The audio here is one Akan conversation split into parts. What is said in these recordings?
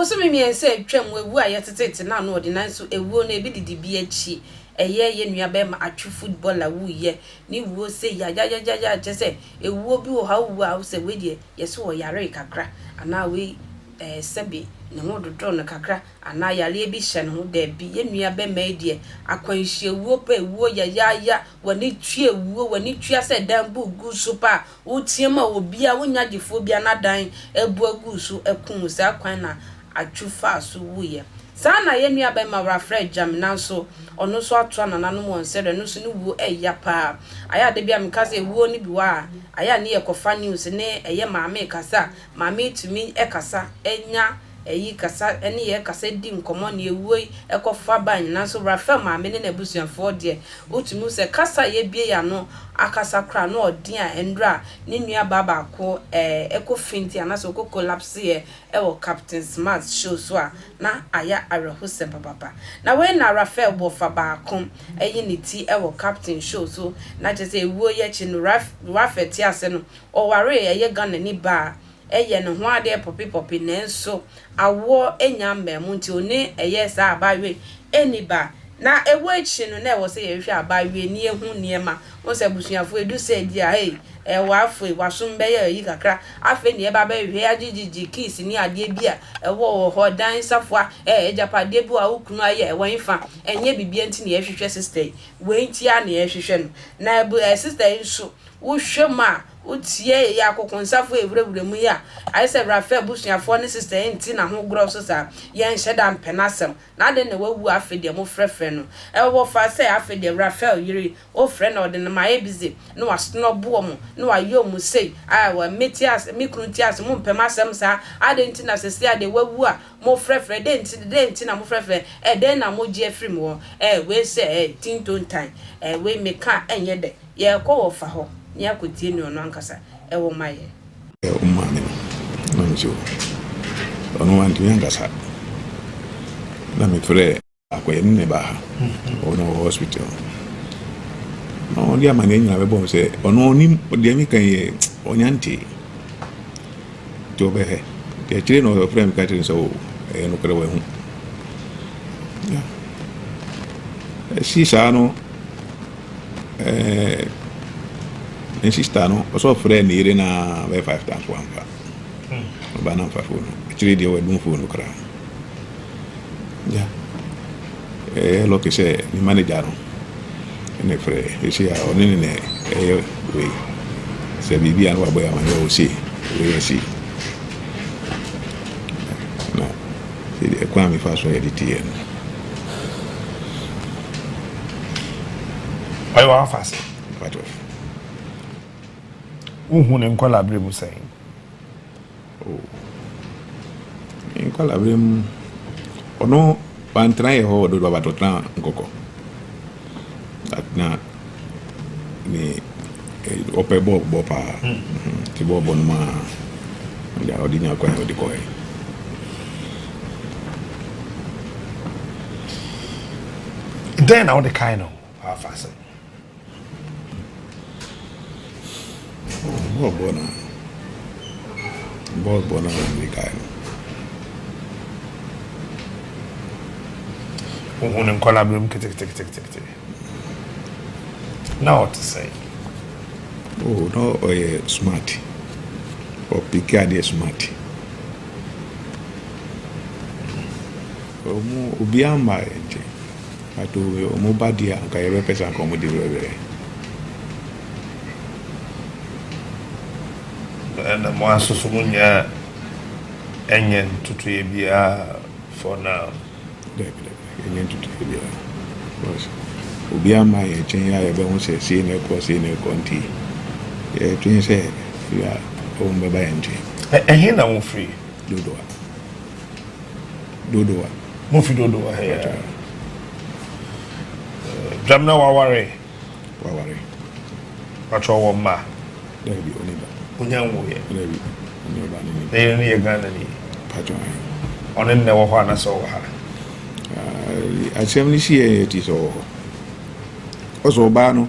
Bosome mmiɛnsa atwam, wawu ayɛ tetete na ano ɔde nanso awuo no ebi didi bi akyi, ɛyɛ yɛn nua bɛɛma Atwi footballer wuiɛ, ne wuo sei yayayayayaa kyerɛ sɛ awuo bi wɔ hɔ a wowu a wosɛ wei deɛ yɛse ɔyaree kakra anaa wei Ɛɛ, sɛbe ne ho dodow no kakra anaa yareɛ bi hyɛ ne ho. Dabi, yɛn nua bɛma yi deɛ, akwanhyia wuo pɛ, wuo yayaaya, w'ani tua wuo, w'ani tua sɛ dan bu gu so paa, woteam a obiara, wonya gyefoɔ biara n'adan abu agu so akum wo, saa kwan na Atsu faa so wuiɛ. Saa na yɛn nua bɛma Rafrɛ Gyami nanso ɔno nso atoa nananom wɔn sɛdeɛ ɛno nso ne wuo ɛya paa. Ayɛ a da bi a meka sɛ wuo no bi wɔ a, ayɛ a ne yɛkɔfa news ne ɛyɛ maame kasa a, ma me tumi kasa nya ɛyi kasa ne yɛ kasa di nkɔmɔ ne ɛwuoi kɔ fa ba nyinaa nso Rafael maame ne n'abusuafoɔ deɛ wo tumi hu sɛ kasa a yɛ bue yɛ ano akasa koraa no ɔden a ɛndura a ne nua baa baako ɛɛ kɔ feinti anaasɛ ɔkɔ collapse yɛ ɛwɔ Captain Smart show so a na ayɛ awerɛhosɛm papapa na wei na Rafael bɔ fa baako ɛyi ne ti ɛwɔ Captain show so na kyerɛ sɛ ɛwuo yi akyi no Rafael te ase no ɔwaree ɛyɛ Ghanani baa a ɛyɛ ne ho adeɛ pɔpe pɔpe nanso awoɔ nnya mmaa mu nti ɔne ɛyɛ saa abaayewa yi nni ba na ɛwɔ akyire no na ɛwɔ sɛ yɛhwehwɛ abaayewa na yɛhu nneɛma wohu sɛ abusuafoɔ ɛdu sɛ bi a hei ɛɛ w'afei w'asom bɛyɛ ayi kakra afei na yɛba bɛhwehwɛ agyegyegye keys ne adeɛ bi a ɛwɔ wɔ hɔ dan safoa ɛɛ agyapadeɛ bi wɔ a wo kunu ayɛ ɛwɔ hefa ɛnyɛ biribiara nti na yɛhwehwɛ sister yi wei nti ara na yɛhwehwɛ no na ɛbu ɛɛ sister yi nso Wohwɛ mu a, wotie yɛ akokonsafo a ewurawura mu yi a, ayɛ sɛ Rafael abusuafo ne Sista Eng tse n'ahogoraw so saa. Yɛnnhyɛ da mmpɛ n'asɛm, na adɛn na oewu a afei deɛ mofrɛfrɛ no? Ɛwɔ hɔ fa sɛ afei deɛ Rafael yere yi, wofrɛ na ɔde no ma ayɛ bi dze, na ɔasonɔ bo wɔ mo, na ɔayɛ mo sei. Aawɔ, me tse ase, me kunu tse ase, mommpɛ m'asɛm saa. Adɛn ntsi na sesei a deɛ oewu a, Mofrɛfrɛ, dɛn nti, dɛn nti na mofrɛfrɛ, eh, dɛn na mogye afiri me hɔ, eh, wei sɛ, eh, tintontan, eh, wei meka a ɛnyɛ dɛ, yɛrekɔ wɔ fa hɔ na yɛakɔtie nea ɔno ankasa wɔ ma yɛn. Yɛ wo maame no, nanso ɔno wantumi ankasa, na mefrɛɛ. Akɔyɛ no na ɛbaa ha. Ɔwɔ na ɔwɔ hospital. Na ɔde amanneɛ nyinaa bɛbɔ sɛ ɔno ɔnim deɛ meka yɛ ɔnya ntee. Nti ɔbɛhɛ. Nti akyire na ɔfrɛ me ka kyerɛ sɛ o ɛyɛ nokorɛ wahu. Yeah. Ɛsi saa no ɛɛ ne sista no ɔsɛ ɔfrɛ ne yere na bɛyɛ five times wamfa. Ɔbaa na mfa fon no. Akyire deɛ wadum fon no koraa. Yeah, ɛyɛ lucky sɛ me manager no ɛna ɛfrɛ ɛsɛ a ɔne ne na ɛyɛ wei sɛ biribi a na wabɔ yɛ ama yɛ ɔse wei asi na sɛdeɛ ɛkwan a mefa so yɛde teɛ no ɔyɛ wafa ase wohu ne nkɔla berɛ mu sɛn Me nkɔlaaberɛ mu, ɔno wantena yɛn hɔ wɔ Dodoma but ɔtenaa Nkɔkɔ. But na ne ɔpɛ bɔɔl bɔ paa nti bɔɔl bɔ no mu ara na ɔde nya kwan a ɔde kɔɛ. Dɛn na wode kae no? Afa sɛ. Bɔɔl bɔ na bɔɔl bɔ na wɔn de kae no. Ohun ne nkɔla bɛm keteketekete. Na ɔte sɛ. Oh, na ɔyɛ smart. Ɔpeke adeɛ smart. Obiara mma yɛn nkyɛn. Adoe ɔmo ba deɛ a anka yɛbɛpɛ sɛ anka ɔmo de werɛwerɛ. Ɛna mo asoso mo nyɛ a ɛnyɛ ntotoeɛ biara for now. Dabi dabi ɛnyɛ ntotoeɛ biara because obiara mmaa yɛn nkyɛn yi a yɛbɛho sɛ sei na ɛkɔ sei na ɛkɔ nti yɛdwene sɛ firi a ɔmo bɛba yɛn nkyɛn. Ɛhe na mofiri? Dodowa. Dodowa. Mufi Dodowa hɛɛ. Dwamena waware? Waware. Patro ɔwɔ mma? Daabi, ɔne ba. Onya nwoeɛ? Daabi, ɔne ɔba ne ne. Ne yere no yɛ Ghana ni? Patro ahe. Ɔne nnɛ wɔ hɔ anasɛ ɔwɔ ha? Asɛm no si yɛ yɛ ti sɛ ɔwɔ hɔ. Ɔsɛ ɔbaa no.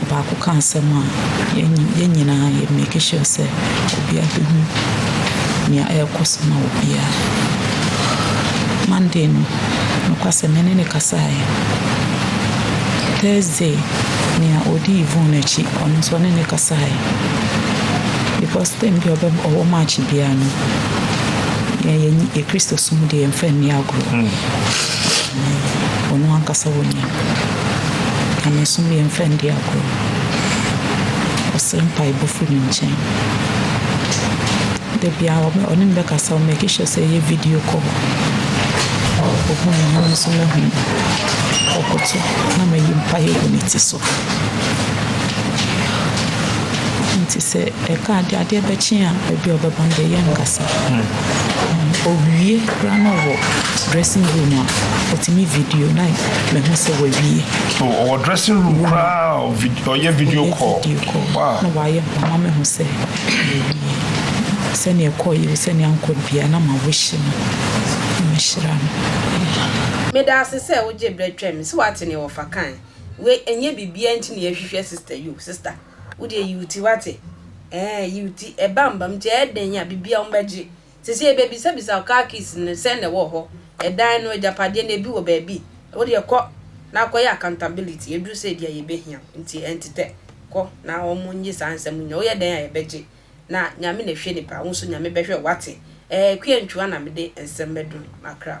Ɔbaako ka asɛm a, yɛn nyinaa yɛ make sure sɛ obiara bɛhu nea ɛrekɔ so ma obiara. Monday no, nokwasɛm me ne no kasaeɛ. Thursday, nea ɔdi Yvonne akyi, ɔno nso ɔne no kasaeɛ. Because time biara ɔbɛ ɔwɔ match biara no, yɛn yɛn Kristosom deɛ yɛmfa nni agorɔ. wɔn ankasa wɔnya. Nyamesom yɛmfa nni agorɔ. Ɔsrɛ mpaebɔ firi ne nkyɛn. Da biara ɔbɛ ɔne me bɛkasa, ɔ make sure sɛ yɛyɛ video call. Ɔhu me na me nso mahu no. Ɔkoto na mayi mpaeɛ agu ne ti so. Nti sɛ. Ɛka ade a adeɛ bɛkye a baabi a ɔbɛba no deɛ yɛ nkasa. Ɔwie koraa na ɔwɔ dressing room a ɔtumi video na mahu sɛ wawie. So ɔwɔ dressing room koraa a ɔyɛ video call? Video call. Wow. Na wayɛ ho ama mahu sɛ wawie. Sɛnea ɛkɔeɛ o sɛnea ankɔ biara na ma wish no na mahyira no. Medaase sɛ wogye berɛ twɛn me. So wate nea wɔfa kae? Wei ɛnyɛ biribiara nti na yɛhwehwɛ sister yi o, sister. wo deɛ yi wo ti wate ɛɛ yi wo ti ɛba mba mu kyɛ ɛdɛn a bibia wɔn bɛgye sese yɛbɛbisa bisa wo car keys no sɛn na ɛwɔ hɔ ɛdan no agyapadeɛ no ebi wɔ baabi wo deɛ kɔ na akɔ yɛ accountability ɛduru sɛ ebi a yɛbɛhia wo nti ɛntetɛ kɔ na wɔn nye saa nsɛm nyɛ wo yɛ dɛn a yɛbɛgye na Nyame na hwɛ nipa, wo so Nyame bɛhwɛ wo wate ɛɛ Kwiantwua na mede nsɛm bɛdum makra.